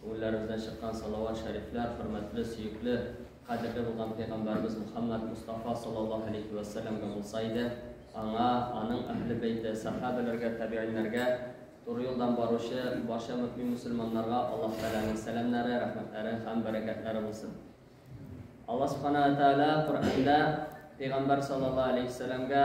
Күңелләребездән чыккан салават шәрифләр хөрмәтле, сөекле, кадерле булган Пәйгамбәребез Мөхәммәд Мостафа саллаллаһу алейһи вә сәлләмгә булса иде, аңа, аның әһле бәйте, сәхабәләргә, тәбигыйньнәргә, туры юлдан баручы барча мөэмин мөселманнарга Аллаһ Тәгаләнең сәламнәре, рәхмәтләре һәм бәрәкәтләре булсын. Аллаһ Субханаһу вә Тәгалә Коръәндә Пәйгамбәр саллаллаһу алейһи вә сәлләмгә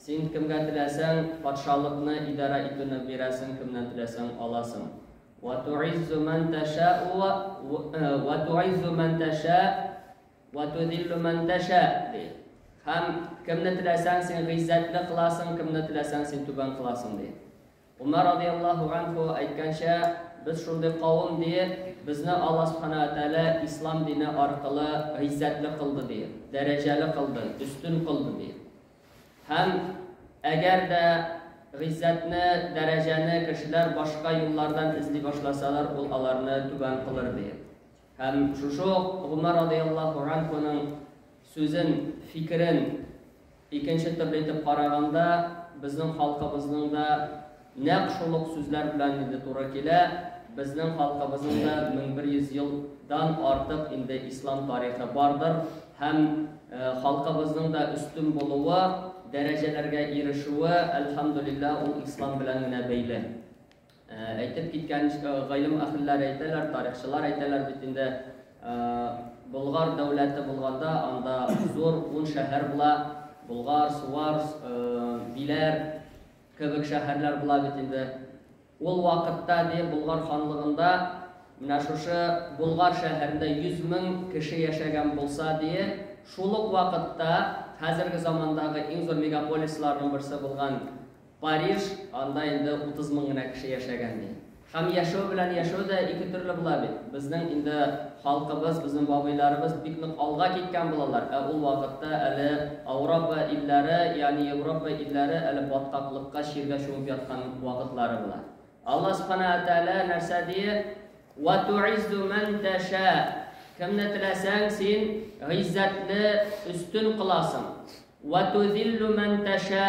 Син кемгә теләсәң, патшалыкны идарә итүне бирәсең, кемнән теләсәң, аласың. Вә ту'иззу мән тәшә'ү вә вә ту'иззу мән тәшә'ү вә ту'зиллу мән тәшә'ү ди. Һәм кемне теләсәң, син гыйззәтле кыласың, кемне теләсәң, син түбән кыласың ди. Умар радияллаһу анһу әйткәнчә, без шундый кавым, диеп, безне Алла субхана уә тәгалә ислам дине аркылы гыйззәтле кылды, диеп, дәрәҗәле кылды, өстен кылды, диеп. Һәм әгәр дә гыйззәтне, дәрәҗәне кешеләр башка юллардан эзли башласалар, ул аларны түбән кылыр, диеп. Һәм шушы ук Гомәр радияллаһу анһуның сүзен, фикерен Икенче төрле итеп караганда, безнең халкыбызның да нәкъ шул ук сүзләр белән инде туры килә, безнең халкыбызның да 1100 ел дан артык инде ислам тарихы бардыр һәм халкыбызның да өстен булуы, дәрәҗәләргә ирешүе, әлхәмдүлилләһ, ул ислам белән генә бәйле. Әйтеп киткәнчә, гыйлем әһелләре әйтәләр, тарихчылар әйтәләр бит инде, Болгар дәүләте булганда, анда зур ун шәһәр була, Болгар, Суар, Биләр кебек шәһәрләр була бит инде. Ул вакытта, ди, Болгар ханлыгында менә шушы Болгар шәһәрендә 100 мең кеше яшәгән булса, ди, шул ук вакытта хәзерге замандагы иң зур мегаполисларның берсе булган Париж, анда инде утыз мең генә кеше яшәгән ди. Һәм яшәү белән яшәү дә ике төрле була бит. Безнең инде халкыбыз, безнең бабыйларыбыз бик нык алга киткән булалар, ә ул вакытта әле Ауропа илләре, ягъни Европа илләре әле баткаклыкка, чиргә чумып яткан вакытлары була. Алла Субханаһу ва Тәгалә нәрсә ди? Вә ту'иззу мән тәшә, кемне теләсәң син гыйззәтле, өстен кыласың. Вә тузиллу мән тәшә,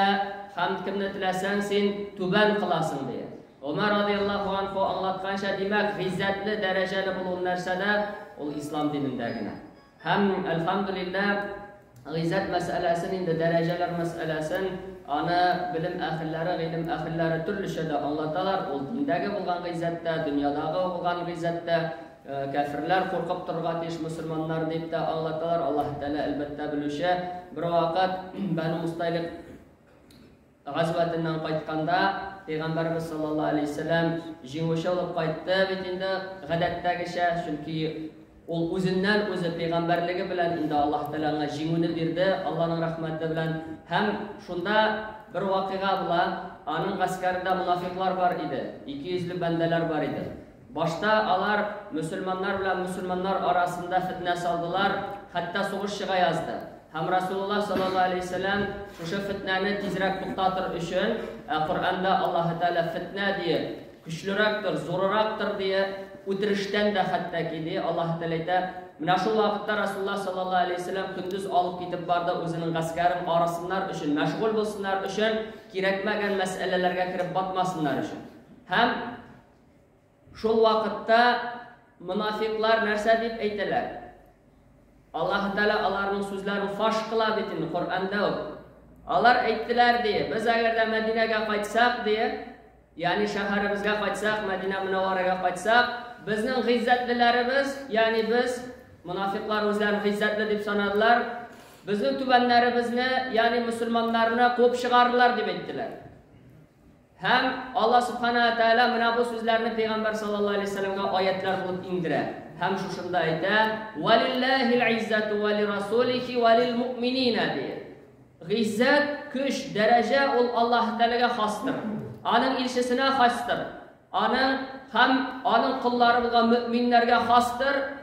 һәм кемне теләсәң син түбән кыласың, дия. Омар радиаллаху анху аңлатканча, димәк, гыйззәтле, дәрәҗәле булу нәрсәдә? Ул ислам динендә генә. Һәм, әлхәмдулиллә, гыйззәт мәсьәләсен инде, дәрәҗәләр мәсьәләсен, аны белем әһелләре, гыйлем әһелләре төрлечә дә аңлаталар, ул диндәге булган гыйззәт тә, дөньядагы булган гыйззәт тә. Кәферләр куркып торырга тиеш мөселманнар, дип тә аңлаталар. Аллаһ Тәгалә, әлбәттә, белүче. Бервакыт Бәну Мусталик газвәтеннән кайтканда, Пәйгамбәрбез саллаллаһу алейһи вәсәлләм җиңүче булып кайтты бит инде, гадәттәгечә, чөнки ул үзеннән үзе пәйгамбәрлеге белән инде Аллаһ Тәгалә аңа җиңүне бирде, Аллаһның рәхмәте белән. Һәм шунда бер вакыйга була, аның гаскәрендә мунафикълар бар иде, икейөзле бәндәләр бар иде. Башта алар мөселманнар белән мөселманнар арасында фетнә салдылар, хәтта сугыш чыга язды. Һәм Расулуллаһ саллаллаһу алейһи вә сәлләм шушы фетнәне тизрәк туктатыр өчен, ә Коръәндә Аллаһы Тәгалә фетнә диеп, көчлерәктер, зурырактыр диеп, үтерештән дә хәтта ки, ди, Аллаһы Тәгалә әйтә, Менә шул вакытта Расулуллаһ саллаллаһу алейһи вә сәлләм көндез алып китеп барды үзенең гаскәрен арысыннар өчен, мәшгуль булсыннар өчен, кирәкмәгән мәсьәләләргә кереп батмасыннар өчен. Һәм Шул вакытта монафикълар нәрсә дип әйтәләр? Аллаһы Тәгалә аларның сүзләрен фаш кыла бит инде Коръәндә үк. Алар әйттеләр, ди, без әгәр дә Мәдинәгә кайтсак, ди, ягъни шәһәребезгә кайтсак, Мәдинә Мөнәввәрәгә кайтсак, безнең гыйззәтлеләребез, ягъни без, монафикълар үзләрен гыйззәтле дип санадылар, безнең түбәннәребезне, ягъни мөселманнарны куып чыгардылар, дип әйттеләр. Һәм Алла Субхана ва Тәгалә менә бу сүзләрне пәйгамбәр саллаллаһу алейһи ва сәлләмгә аятлар булып иңдерә. Һәм шушында әйтә, "Валиллахил иззату ва лирасулихи ва лилмуъминина" ди. Гыйззәт, көч, дәрәҗә ул Аллаһ Тәгаләгә хастыр. Аның илчесенә хастыр. Аның һәм аның коллары булган мөэминнәргә хастыр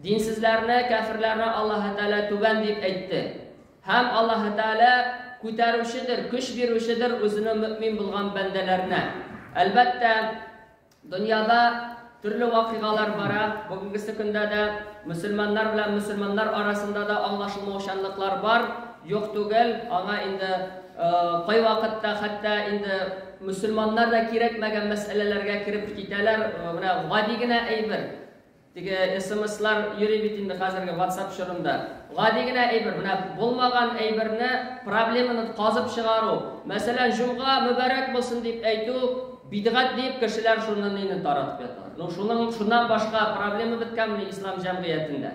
Динсезләрне, кәферләрне Аллаһы Тәгалә түбән дип әйтте. Һәм Аллаһы Тәгалә күтәрүчедер, көч бирүчедер үзенең мөэмин булган бәндәләренә. Әлбәттә, дөньяда төрле вакыйгалар бара. Бүгенгесе көндә дә мөселманнар белән мөселманнар арасында да аңлашылмаучанлыклар бар. Юк түгел, аңа инде кайвакытта хәтта инде мөселманнар да кирәкмәгән мәсьәләләргә кереп китәләр. Менә гади генә әйбер. Теге смслар йөри бит инде хәзерге ватсап чорында. Гади генә әйбер, менә булмаган әйберне, проблеманы казып чыгару. Мәсәлән, җомга мөбарәк булсын дип әйтү бидгать диеп кешеләр шуны нине таратып ята. Ну шуның шуннан башка проблема беткәнме ислам җәмгыятендә?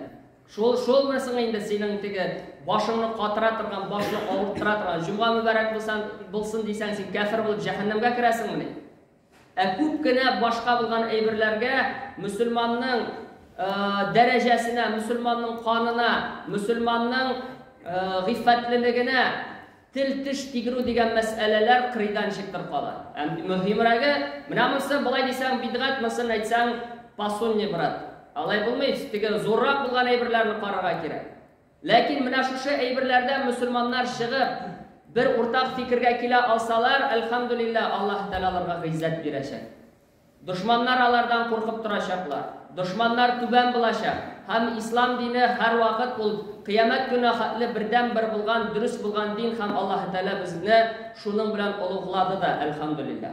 Шул шул бер соң инде синең теге башыңны катыра торган, башны авырттыра торган. Җомга мөбарәк булсын, булсын дисәң, син кәфер булып җәһәннәмгә керәсеңмени? Ә күп кенә башка булган әйберләргә мөселманның дәрәҗәсенә, мөселманның канына, мөселманның гыйффәтлелегенә тел-теш тигерү дигән мәсьәләләр кырыйдан чыктыр кала. Ә мөһимрәге, менә монысы болай дисәң бидгать, монысын әйтсәң пасунни, брат. Алай булмый, теге зуррак булган әйберләрне карарга кирәк. Ләкин менә шушы әйберләрдән мөселманнар чыгып, бер уртак фикергә килә алсалар, әлхәмдүлиллә, Аллаһы Тәгалә аларга гыйззәт бирәчәк. Дошманнар алардан куркып торачаклар. Дошманнар түбән булачак. Һәм ислам дине һәрвакыт ул кыямәт көненә хәтле бердәнбер булган, дөрес булган дин һәм Аллаһы Тәгалә безне шуның белән олуглады да, әлхәмдүлиллә.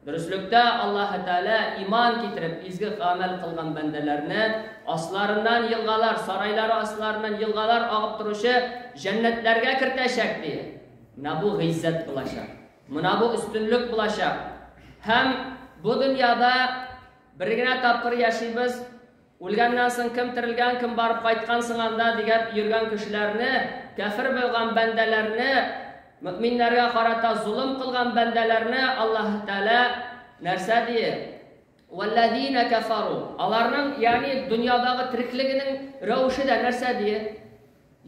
Дөреслектә Аллаһы Тәгалә иман китереп, изге гамәл кылган бәндәләрне асларыннан елгалар, сарайлары асларыннан елгалар агып торучы җәннәтләргә кертәчәк, ди. Менә бу гыйззәт булачак. Менә бу өстенлек булачак. Һәм бу дөньяда бер генә тапкыр яшибез. Үлгәннән соң кем терелгән, кем барып кайткан соң анда дигәп йөргән кешеләрне, кәфер булган бәндәләрне, мөэминнәргә карата золым кылган бәндәләрне Аллаһы Тәгалә нәрсә дие? Вәлләзинә кәфәру. Аларның, ягъни дөньядагы тереклегенең рәвеше дә нәрсә дие?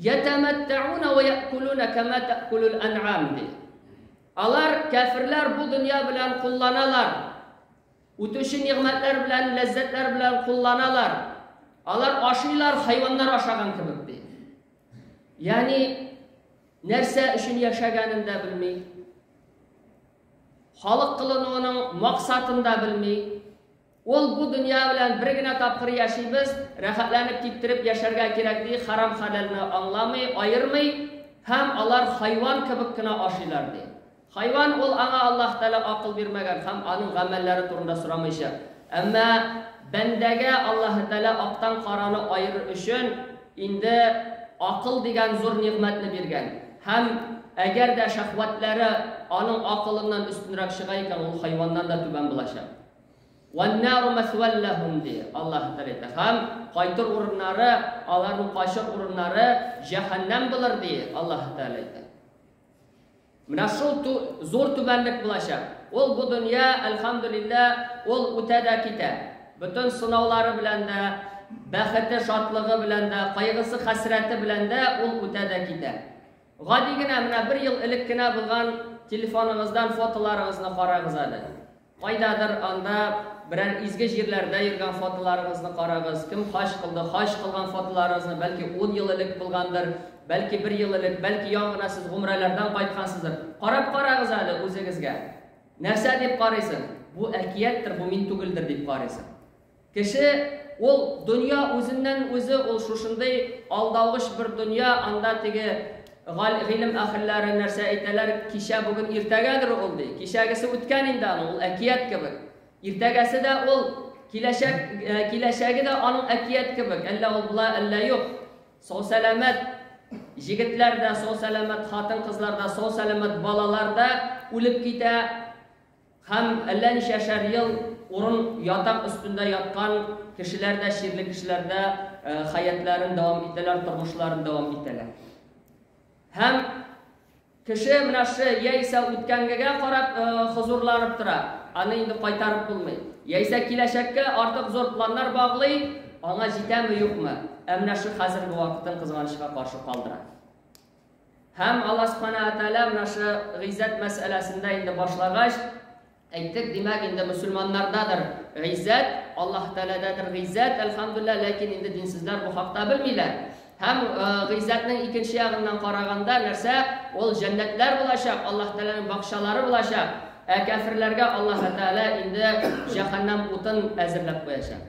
Ятәмәттәүнә вә якулуна кама такулул ан'ам ди. Алар, кәферләр, бу дөнья белән кулланалар. Үтүче нигъмәтләр белән, ләззәтләр белән кулланалар. Алар ашыйлар, хайваннар ашаган кебек, ди. Ягъни, нәрсә өчен яшәгәнен дә белми, халык кылынуының максатын да белми. Ул бу дөнья белән бер генә тапкыр яшибез, рәхәтләнеп киптереп яшәргә кирәк ди, харам-хәләлне аңламый, аермый һәм алар хайван кебек кенә ашыйлар ди. Хайван, ул аңа Аллаһ Тәгалә акыл бирмәгән һәм аның гамәлләре турында сорамыйча. Әмма бәндәгә Аллаһ Тәгалә актан караны аерыр өчен инде акыл дигән зур нигъмәтне биргән. Һәм әгәр дә шәһвәтләре аның акылыннан өстенрәк чыга икән, ул хайваннан да түбән булачак. Вән-нару мәсвәл ләһүм, ди Аллаһ Тәгалә әйтә. Һәм кайтыр урыннары, аларның качыр урыннары җәһәннәм булыр, ди Аллаһ Тәгалә әйтә. Менә шул ту, зур түбәнлек булачак. Ул бу дөнья, әлхәмдүлиллә, ул үтә дә китә. Бөтен сынаулары белән дә, бәхете, шатлыгы белән дә, кайгысы, хәсрәте белән дә ул үтә дә китә. Гади генә менә бер ел элек кенә булган телефоныгыздан фотоларыгызны карагыз әле. Кайдадыр анда берәр изге җирләрдә йөргән фотоларыгызны карагыз, кем хаҗ кылды, хаҗ кылган фотоларыгызны, бәлки ун ел элек булгандыр, бәлки бер ел элек, бәлки яңа гына сез гомрәләрдән кайткансыздыр. Карап карагыз әле үзегезгә. Нәрсә дип карыйсың? Бу әкияттер, бу мин түгелдер дип карыйсың. Кеше, ул дөнья үзеннән үзе, ул шушындый алдавыч бер дөнья, анда теге галь, гыйлем әһелләре нәрсә әйтәләр, кичә, бүген, иртәгәдер ул, ди. Кичәгесе үткән инде аның, ул әкият кебек. Иртәгәсе дә ул, киләчәк, киләчәге дә аның әкият кебек, әллә ул була, әллә юк. Сау-сәламәт җегетләр дә, сау-сәламәт хатын-кызлар да, сау-сәламәт балалар да үлеп китә. Һәм әллә ничәшәр ел урын ятак өстендә яткан кешеләр дә чирле кешеләр дә хәятләрен дәвам итәләр, тормышларын дәвам итәләр. Һәм кеше менә шы яисә үткәнгегә карап хозурланып тора, аны инде кайтарып булмый. Яисә киләчәккә артык зур планнар баглый, аңа җитәме-юкмы, ә менә шы хәзерге вакытын кызганычка каршы калдыра. Һәм Алла Субхана ва Тәгалә менә шы гыйззәт мәсьәләсендә инде башлагач, әйттек, димәк, инде мөселманнардадыр гыйззәт, Аллаһ Тәгаләдәдер гыйззәт, әлхәмдүлилләһ, ләкин инде динсезләр бу хакта белмиләр. Һәм гыйззәтнең икенче ягыннан караганда нәрсә? Ул җәннәтләр булачак, Аллаһ Тәгаләнең бакчалары булачак. Ә кәферләргә Аллаһ Тәгалә инде җәһәннәм утын әзерләп куячак.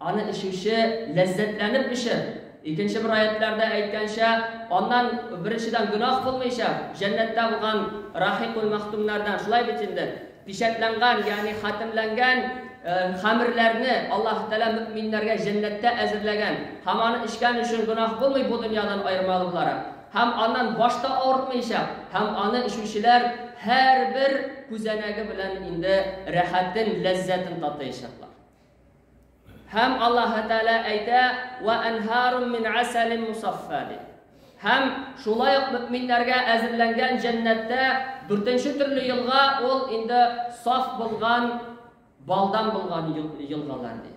Аны эчүче ләззәтләнеп эчер. Икенче бер аятьләрдә әйткәнчә, аннан, беренчедән, гөнаһ булмыйчак, җәннәттә булган рахикуль-мәхтүмнәрдән, шулай бит инде, пичәтләнгән, ягъни хатемләнгән хәмерләрне Аллаһы Тәгалә мөэминнәргә җәннәттә әзерләгән һәм аны эчкән өчен гөнаһ булмый бу дөньядан аермалы буларак, һәм аннан баш та авыртмыйчак, һәм аны эчүчеләр һәрбер күзәнәге белән инде рәхәтен, ләззәтен татыячаклар. Һәм Аллаһы Тәгалә әйтә, "Ва анһарун мин асалин мусаффа" дип. Һәм шулай ук мөэминнәргә әзерләнгән җәннәттә дүртенче төрле елга ул инде саф булган балдан булган елгалар ди.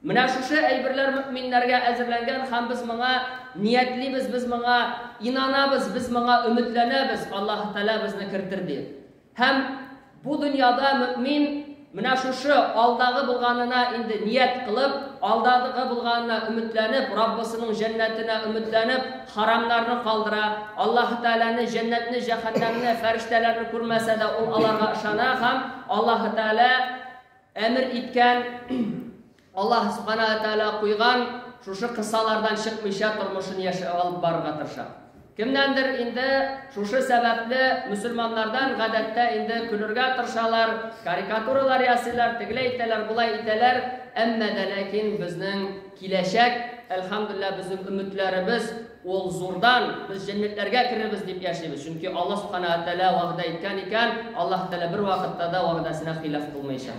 Менә шушы әйберләр мөэминнәргә әзерләнгән һәм без моңа ниятлибез, без моңа инанабыз, без моңа өметләнәбез, Аллаһы Тәгалә безне кертер дип. Һәм бу дөньяда мөэмин менә шушы алдагы булганына инде ният кылып, алдадыгы булганына өметләнеп, Раббысының җәннәтенә өметләнеп, харамнарны калдыра, Аллаһы Тәгаләне, җәннәтне, җәһәннәмне, фәрештәләрне күрмәсә дә, ул аларга ышана һәм Аллаһы Тәгалә әмер иткән Аллаһ Субхана ва Тәгалә куйган шушы кысалардан чыкмыйча тормышын яшә алып барырга тырыша. Кемнәндер инде шушы сәбәпле мөселманнардан гадәттә инде көлергә тырышалар, карикатуралар ясыйлар, тегеләй итәләр, болай итәләр, әмма дә ләкин безнең киләчәк, әлхәмдулиллаһ, безнең өметләребез ул зурдан, без җәннәтләргә керербез дип яшибез. Чөнки Аллаһ Субхана ва Тәгалә вәгъдә иткән икән, Аллаһ Тәгалә бер вакытта да вәгъдәсенә хилаф кылмыйча.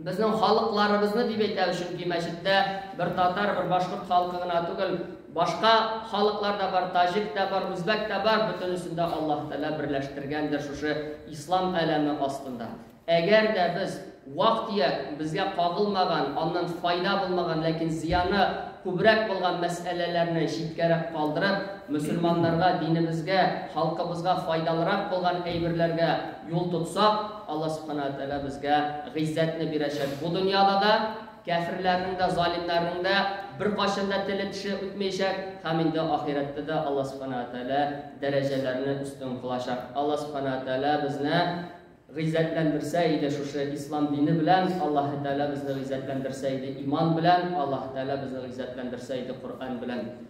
Безнең халыкларыбызны дип әйтәбез, чөнки мәчеттә бер татар, бер башкорт халкы гына түгел, башка халыклар да бар, таҗик та бар, үзбәк та бар, бөтенесен дә Аллаһ Тәгалә берләштергәндер шушы ислам әләме астында. Әгәр дә без вак-төяк безгә кагылмаган, аннан файда булмаган, ләкин зыяны күбрәк булган мәсьәләләрне читкәрәк калдырып, мөселманнарга, динебезгә, халкыбызга файдалырак булган әйберләргә юл тотсак, Алла Субхана ва Тәгалә безгә гыйззәтне бирәчәк бу дөньяда да, кяферләрнең дә, залимнәрнең дә беркайчан да теле-теше үтмәячәк һәм инде ахирәттә дә Алла Субхана ва Тәгалә дәрәҗәләрне өстен кылачак. Алла Субхана ва Тәгалә безне гыйззәтләндерсә иде шушы ислам дине белән, Аллаһ Тәгалә безне гыйззәтләндерсә иде иман белән, Аллаһ Тәгалә безне гыйззәтләндерсә иде Коръән белән.